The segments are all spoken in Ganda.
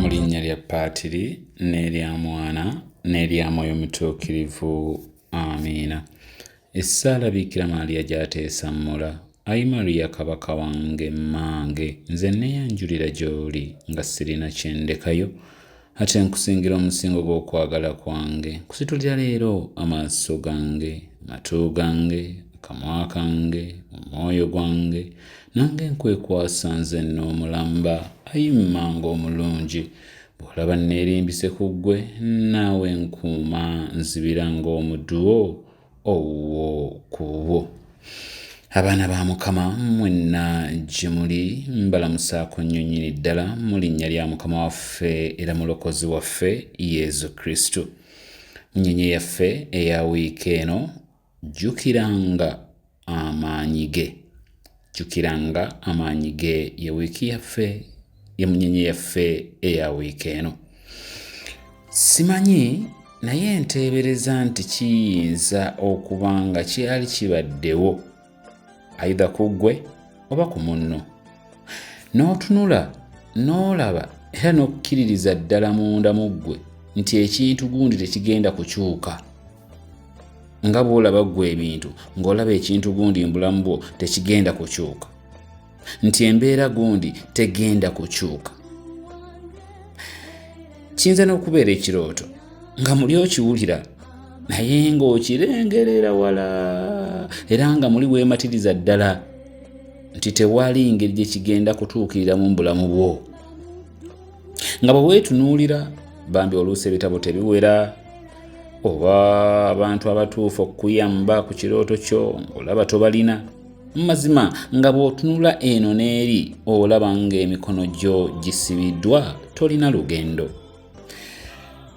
mu linnya lya paatiri n'erya mwana n'erya mwoyo mutuukirivu amiina Essaala Bikira Maria gy'ateesa Mola. Ayi Maria Kabaka wange, mmange, nze nneeyanjulira gy'oli nga sirina kye ndekayo, ate nkusingira omusingo gw'okwagala kwange. Nkusitulira leero amaaso gange, amatu gange, akamwa kange, omwoyo gwange, nange nkwekwasa nze n'omulamba. Ayi mmange omulungi, bw'olaba nneerimbise ku ggwe, naawe nkuuma, nzibira ng'omuduwo. owo kubo abaana ba mukama mwenna gye muli mbalamusaako nnyo nnyini ddala mu linnya lya mukama waffe era mulokozi waffe yesu kristo nnyonyi yaffe eya wiiki eno jjukiranga amaanyi ge. Jjukira nga amaanyi ge ye wiiki yaffe ye munyenye yaffe eya wiiki eno. Simanyi naye nteebereza nti kiyinza okuba nga kyali kibaddewo aidha ku ggwe oba ku munno. N'otunula n'olaba era n'okkiririza ddala munda mu ggwe nti ekintu gundi tekigenda kukyuka. nga bw'olaba ggwe ebintu ng'olaba ekintu gundi mbulamu bwo tekigenda kukyuka nti embeera gundi tegenda kukyuka kiyinza n'okubeera ekirooto nga muli okiwulira naye ng'okirengerera wala era nga muli weematiriza ddala nti tewali ngeri gye kigenda kutuukirira mu bulamu bwo nga bwe weetunuulira bambi oluusi ebitabo tebiwera oba abantu abatuufu okukuyamba ku kirooto kyo ng'olaba tobalina mu mazima nga bw'otunula eno n'eri olaba ng'emikono gyo gisibiddwa tolina lugendo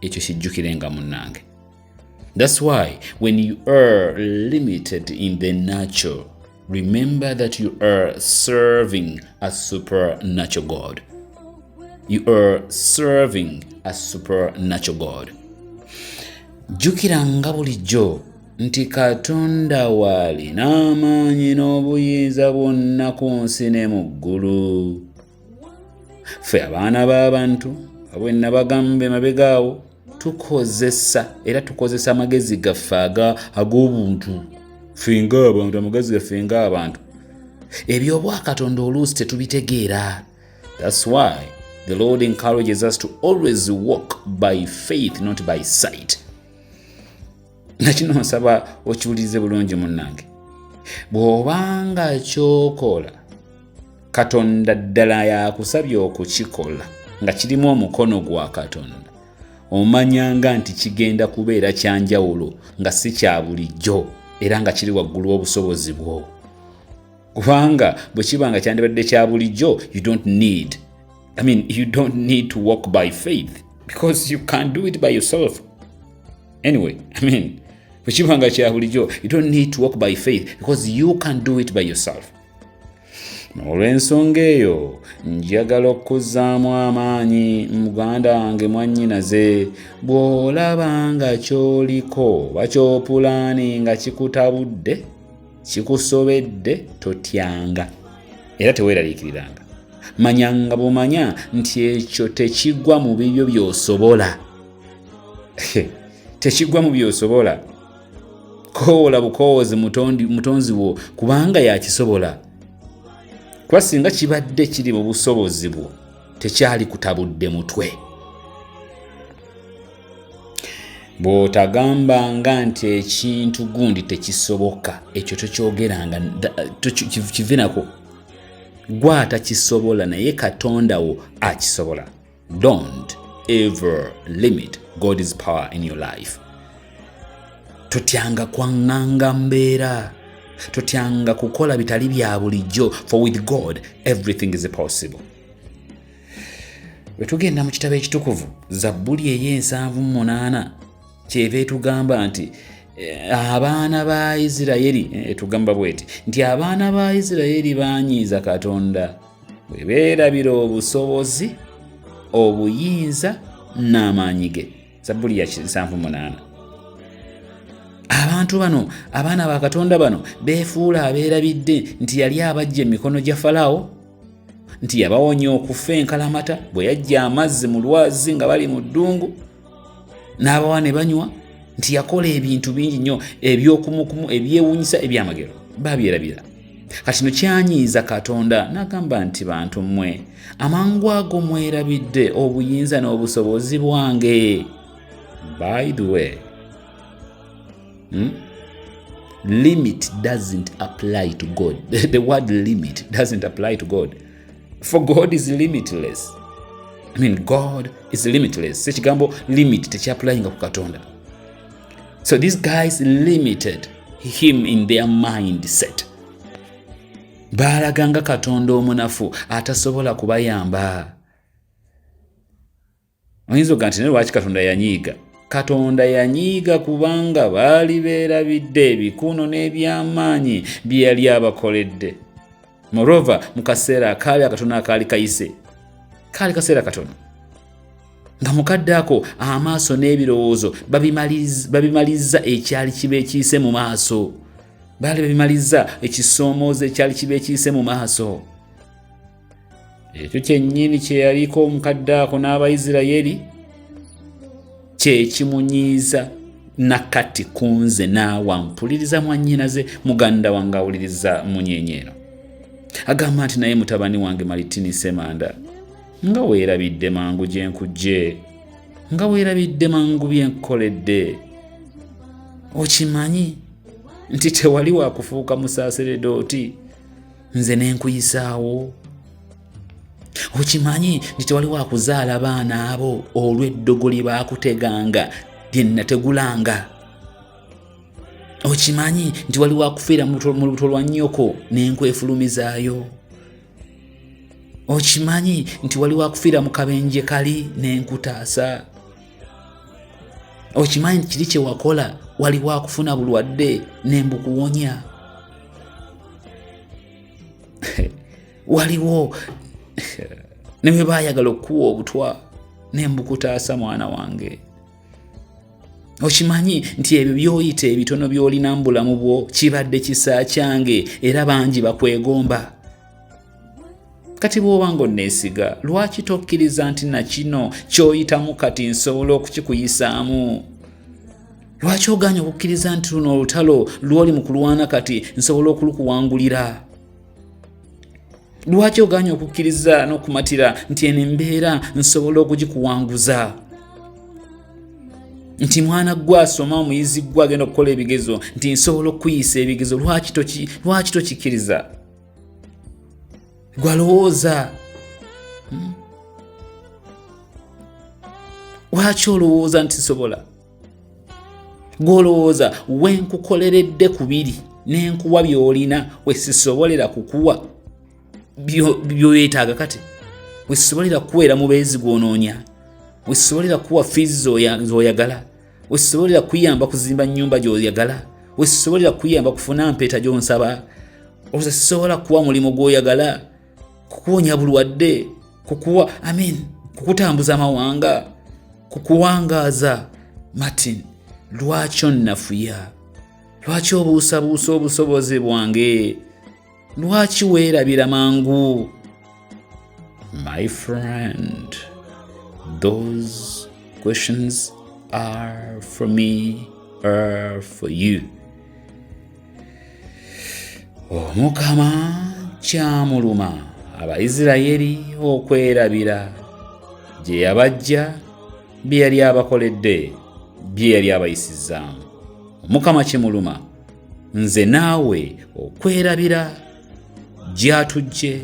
ekyo kijjukirenga munnange thats why when you are limited in the nature remember that you are serving a supernatural god you are serving a supernatural god jjukiranga bulijjo nti katonda waali n'amaanyi n'obuyinza bwonna ku nsi ne mu ggulu ffe abaana b'abantu abwe nabagamba emabega awo tukozesa era tukozesa amagezi gaffe ag'obuntu fenga abantu amagezi gaffe nga abantu ebyobwakatonda oluusi tetubitegeera thats why the lord encourages us to always walk by faith not by sight nakino nsaba okiwulirize bulungi munnange bw'obanga kyokola katonda ddala yakusabye okukikola nga kirimu omukono gwa katonda omanyanga nti kigenda kubeera kyanjawulo nga si kya bulijjo era nga kiri waggulu obusobozi bwo kubanga bwe kiba nga kyandibadde kya bulijjo you don't need i mean you don't need to walk by faith because you can't do it by yourself anyway i mean bwekiba nga kya bulijjo you don't need to walk by faith because you can do it by yourself olw'ensonga eyo njagala okuzzaamu amaanyi muganda wange mwannyinaze bw'olaba nga ky'oliko oba kyopulaani nga kikutabudde kikusobedde totyanga era teweeraliikiriranga manyanga bumanya nti ekyo tekigwa mu bibyo by'osobola tekigwa mu byosobola koowola bukoowozi mutonzi wo kubanga yakisobola kuba singa kibadde kiri mu busobozi bwo tekyali kutabudde mutwe bw'otagambanga nti ekintu gundi tekisoboka ekyo tokyogeranga kivinako gwe atakisobola naye katonda wo akisobola Don't ever limit God's power in your life. Totyanga kwang'anga mbeera, totyanga kukola bitali bya bulijjo, for with God everything is possible. Bwe tugenda mu kitabo ekitukuvu Zabbuli ey'ensanvu mu munaana kyeva etugamba nti eh, abaana ba Isirayiri eh, etugamba bweti nti abaana ba Isirayiri baanyiiza Katonda bwe beerabira obusobozi obuyinza n'amaanyi ge zabbuli ya 78 abantu bano abaana ba katonda bano beefuula abeerabidde nti yali abajja emikono gya falaawo nti yabawonya okufa enkalamata bwe yajja amazzi mu lwazi nga bali mu ddungu n'abawa ne banywa nti yakola ebintu bingi nnyo ebyokumukumu ebyewunyisa ebyamagero babyerabira kati no kyanyiiza katonda n'agamba nti bantu mmwe amangu ago mwerabidde obuyinza n'obusobozi bwange by the way hmm? limit doesn't apply to god the word limit doesn't apply to god for god is limitless I mean, god is limitless sekigambo limit tekyapulayinga ku katonda so these guys limited him in their mindset baalaganga katonda omunafu atasobola kubayamba Oyinza oga nti naye lwaki Katonda yanyiiga? Katonda yanyiiga kubanga baali beerabidde ebikuuno n'ebyamaanyi bye yali abakoledde. Morova mu kaseera akaabi akatono akaali kayise, kaali kaseera katono nga mukadde ako amaaso n'ebirowoozo babimalizza ekyali kiba ekiyise mu maaso baali babimalizza ekisoomooza ekyali kiba ekiyise mu maaso ekyo kyennyini kye yaliko omukadde ako n'abaisiraeri kye kimunyiiza nakati ku nze naawa mpuliriza mwannyinaze muganda wange awuliriza munyenyeero agamba nti naye mutabani wange malitini semanda nga weerabidde mangu gye nkujje nga weerabidde mangu bye nkukoledde okimanyi nti tewali wakufuuka musaaseredooti nze nenkuyisaawo okimanyi nti tewaliwo akuzaala baana abo olw'eddogo lye baakuteganga lye nategulanga okimanyi nti waliwo akufiira mu lubuto lwa nnyoko nenkwefulumizaayo okimanyi nti waliwo akufiira mu kabenje kali nenkutaasa okimanyi nti kiri kyewakola waliwo akufuna bulwadde nembukuwonya waliwo newe bayagala okukuwa obutwa nembukutaasa mwana wange okimanyi nti ebyo byoyita ebitono byolina mu bulamu bwo kibadde kisa kyange era bangi bakwegomba kati bw'oba ng'onneesiga lwaki tokkiriza nti na kino ky'oyitamu kati nsobola okukikuyisaamu lwaki ogaanya okukkiriza nti luno olutalo lw'oli mu kulwana kati nsobola okulukuwangulira lwaki ogaanya okukkiriza n'okumatira nti eno embeera nsobola okugikuwanguza nti mwana gwe asoma omuyizi gwe agenda okukola ebigezo nti nsobola okukuyisa ebigezo lwaki tokikkiriza gwalowooza hmm? lwaki olowooza nti sobola gwolowooza wenkukoleredde ku biri nenkuwa byolina wesisobolera kukuwa byoyetaaga kati wesisobolera kukuweera mubeezi gwonoonya wesisobolera kukuwa fiizi zoyagala wesobolera kuyamba kuzimba nyumba gyoyagala wesobolera kuyamba kufuna mpeeta gyonsaba ozisobola kuwa mulimu gwoyagala kukuwonya bulwadde kukuwa amin kukutambuza amawanga kukuwangaaza martin lwaki onnafuya lwaki obuusabuusa obusobozi bwange lwaki weerabira mangu my friend those questions are for me are for you omukama kyamuluma abaisiraeri okwerabira gye yabajja bye yali abakoledde bye yali abayisizaamu omukama kimuluma nze naawe okwerabira gyatujje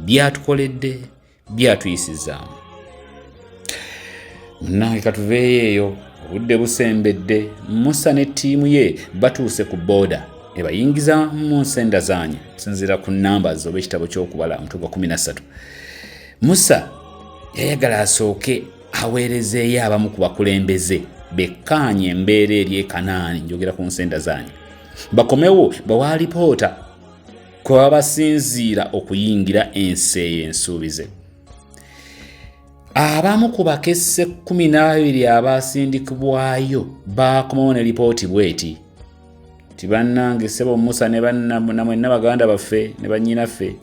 byatukoledde byatuyisizaamu munange katuveeyo eyo obudde busembedde musa ne ttiimu ye batuuse ku booda ebayingiza mu nsenda zaanyi okusinziira ku namba zoba ekitabo ky'okubala omutwe gwa 13 musa yayagala asooke aweerezeeyo abamu ku bakulembeze bekkaanye embeera eri ekanaani njogera ku nsenda zaanyi bakomewo bawa alipoota kwe baba basinziira okuyingira ensi eyo ensuubize abamu ku bakesse 12 abaasindikibwayo baakomawo ne lipooti bweti nti bannange ssebo musa ne namwenna baganda baffe ne bannyinaffe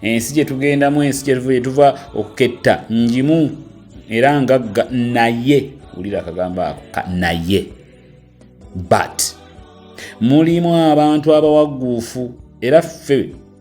ensi gye tugendamu ensi gyetuva gye tuva okuketta njimu era ngagga naye wulira akagambo ako ka naye but mulimu abantu abawagguufu era ffe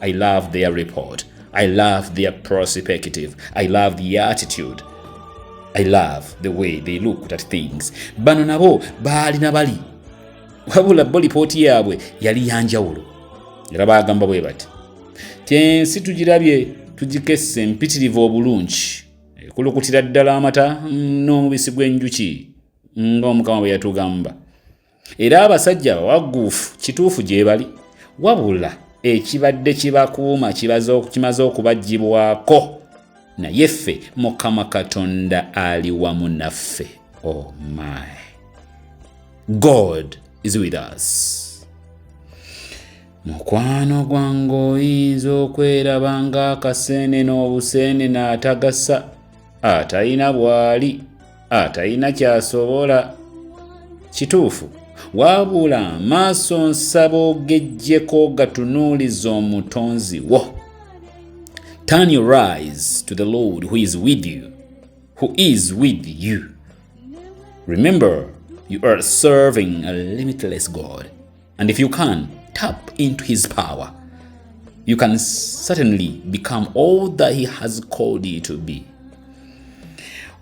I love their report. I love their perspective. I love the attitude. I love the way they looked at things. Bano nabo baali na bali. Wabula bo lipooti yaabwe yali ya njawulo. Era baagamba bwe bati. Kyensi tugirabye tugikesse mpitirivu obulungi. Ekulukutira ddala amata n'omubisi gw'enjuki ng'omukama bwe yatugamba. era abasajja abawagguufu kituufu gyebali wabula ekibadde kibakuuma kimaze okubagibwako naye ffe mukama katonda ali wamu naffe o oh my god is with us mukwano gwange oyinza okweraba ng'akaseene n'obuseene n'atagasa atalina bwali atalina ah, kyasobola kituufu wabula amaaso nsaba ogejjeko gatunuuliza omutonzi wo turn your eyes to the lord who is with you who is with you remember you are serving a limitless god And if you can tap into his power, you can certainly become all that he has called you to be.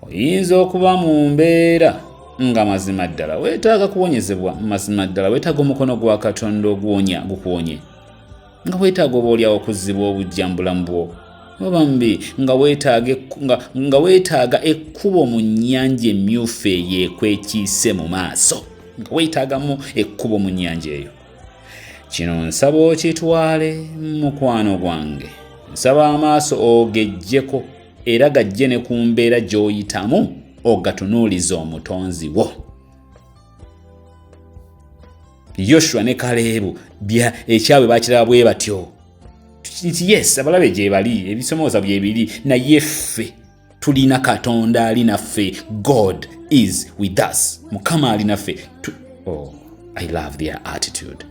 Oyinza okuba mu mbeera nga mazima ddala weetaaga kuwonyezebwa, mazima ddala weetaaga omukono gwa Katonda oguwonya gukuwonye. nga weetaaga oba olyawo okuzzibwa obujja mu bulamu bwo obambi nga weetaaga ekkubo mu nnyanja emmyufu eyo ekwekiise mu maaso nga weetaagamu ekkubo mu nnyanja eyo kino nsaba okitwale mukwano gwange nsaba amaaso ogejjeko era gajje ne ku mbeera gy'oyitamu ogatunuuliza omutonzi wo yoshua ne kaleebu ekyabwe bakiraba bwe batyo nti yes abalabe gyebali ebisomooza byebiri naye ffe tulina katonda ali naffe god is with us mukama ali naffe oh, i love their attitude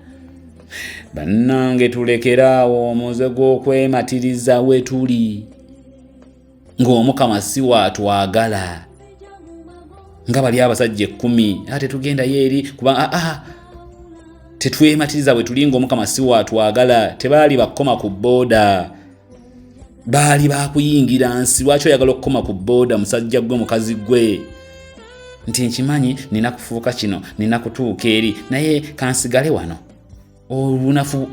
bannange tulekeraawo omuze gw'okwematiriza wetuli ng'omukama si waatwagala nga bali abasajja ekkumi a tetugendayo eri kuba aa ah, ah, tetwematiriza bwe tuli ng'omukama si waatwagala tebaali bakoma ku booda baali bakuyingira nsi lwaki oyagala okukoma ku booda musajja gwe mukazi gwe nti nkimanyi nina kufuuka kino nina kutuuka eri naye kansigale wano obunafu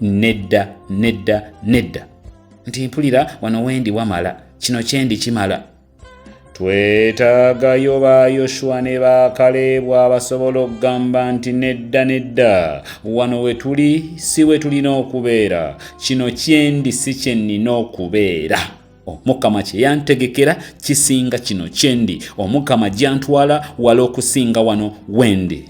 nedda nedda nedda nti mpulira wano wendi wamala kino kyendi kimala twetaagayo ba yoshuwa ne ba kaleebu abasobola okugamba nti nedda nedda wano we tuli si we tulina okubeera kino kyendi si kye nnina okubeera omukama kye yantegekera kisinga kino kyendi omukama gyantwala wala okusinga wano wendi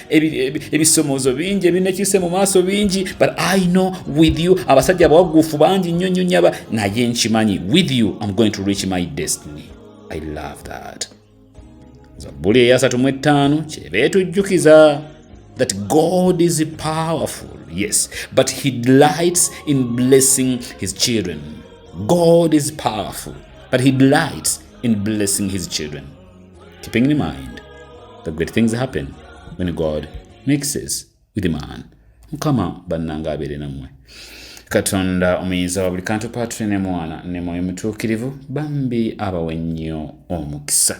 ebisomozo bingi ebinekise mu maaso bingi but i know with you abasajja abawagufu bangi nnyo nnyo nyaba naye nkimanyi with you am going to reach my destiny i love that zabbuli eyasatu mu ettaano kyeba etujjukiza that god is powerful yes but he delights in blessing his children god is powerful but he delights in blessing his children keeping in mind the great things happen when god mixes with man mukama bannanga abeere nammwe katonda omuyinza wa buli kantu patule ne mwana ne mwoyo mutuukirivu bambi abawe nnyo omukisa